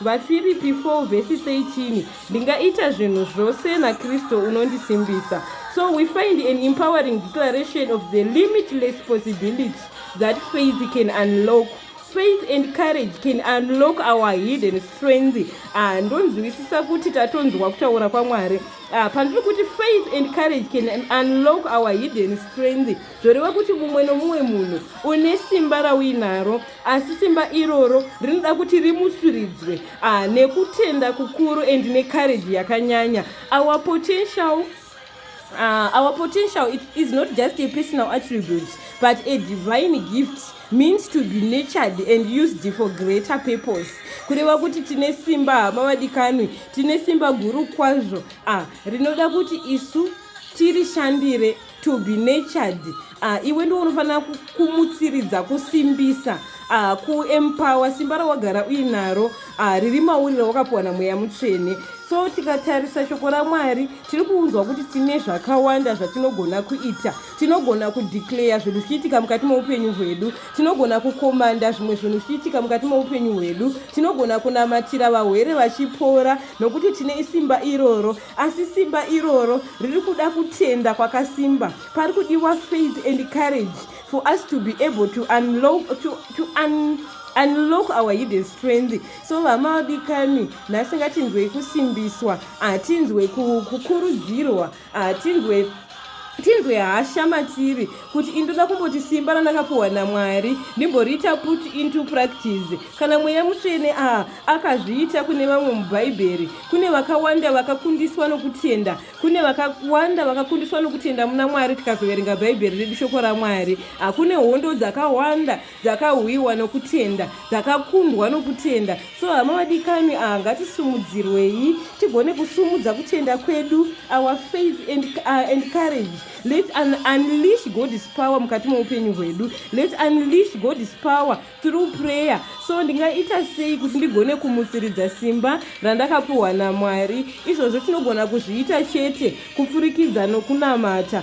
Vafiripi 4 vhesi 13 ndingaita zvinhu zvose nakristu unondisimbisa so we find an empowering declaration of the limitless possibility that faith can unlock faith and courage can unlock our hidden strength ah, ndonzwisisa kuti tatonzwa kutaura kwamwari ah, pandiri kuti faith and courage can unlock our hidden strength zvoreva kuti mumwe nomumwe munhu une simba rauinaro asi simba iroro rinoda kuti rimusuridzwe ah, nekutenda kukuru and necourage yakanyanya our potential uh, our potential it is not just a personal attribute but a divine gift means to be natured and used for greater purpose kureva kuti tine simba hama vadikanwi tine simba guru kwazvo ah, rinoda kuti isu tirishandire to be natured uh, iwe ndiwo unofanira kumutsiridza kusimbisa uh, kuempower simba rawagara uinaro uh, riri mauri rawakapuwa namweya mutsvene so tikatarisa shoko ramwari tiri kuunzwa kuti tine zvakawanda zvatinogona kuita tinogona kudeclare zvinhu zvichiitika mukati meupenyu hwedu tinogona kukomanda zvimwe zvinhu zvichiitika mukati meupenyu hwedu tinogona kunamatira vahwere vachipora nokuti tine isimba iroro asi simba iroro riri kuda kutenda kwakasimba pari kudiwa faith and courage for us to be able to unlock, to, to un, unlock our hidden strength so vamaodikani nhasi ngatinzwei kusimbiswa hatinzwe kukurudzirwa hatinzwe ah, tinzwe hasha matiri kuti ini ndoda kumboti simba randakapuhwa namwari ndimboriita put into practice kana mweya mutsvene a akazviita kune vamwe mubhaibheri kune vakawanda vakakundiswa nokutenda kune vakawanda vakakundiswa nokutenda muna mwari tikazoverenga bhaibheri redu shoko ramwari hakune hondo dzakawanda dzakahwiwa nokutenda dzakakundwa nokutenda so hama vadikani aha ngatisumudzirwei tigone kusumudza kutenda kwedu our faith and, uh, and courage let un unleash god's power mukati meupenyu hwedu let unleash god's power through prayer so ndingaita sei kuti ndigone kumutsiridza simba randakapiwa namwari izvozvo tinogona kuzviita chete kupfurikidza nokunamata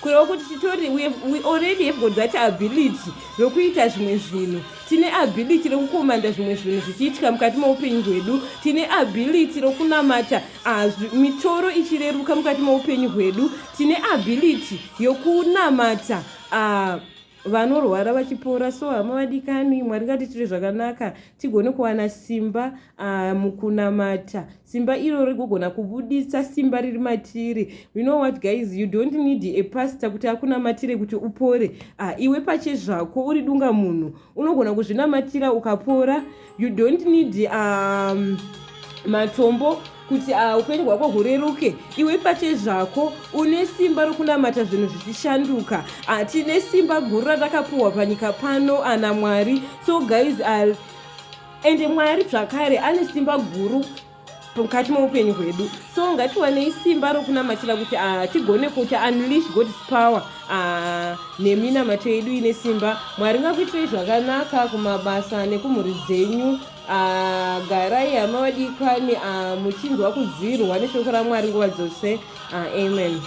kureva kuti titori we, we already have got that ability rokuita zvimwe zvinhu tine ability rokukomanda zvimwe zvinhu zvichiitika mukati meupenyu hwedu tine ability rokunamata ah, mitoro ichireruka mukati meupenyu hwedu tine ability yokunamata ah, vanorwara vachipora so hama vadikani mwari ngatitire zvakanaka tigone kuwana simba ah, mukunamata simba iro rigogona kubuditsa simba riri matiri you know what guys you don't need a pastor kuti akunamatire kuti upore ah, iwe pache zvako uri dunga munhu unogona kuzvinamatira ukapora you don't need um, matombo kuti uh, upenyu hwako hureruke iwe pache zvako une simba rokunamata zvinhu zvichishanduka uh, tine simba guru ratakapuhwa panyika pano ana mwari so guys uh, ende mwari zvakare ane simba guru mukati meupenyu hwedu so ngatiwanei simba rokunamatira kuti ah, tigone kuti unleash god's power ah, neminamato yedu ine simba mwari ngakuitirei zvakanaka kumabasa nekumhuri dzenyu ah, garai hama vadikani muchinzwa kudzirwa neshoko ramwari nguva dzose amen ah,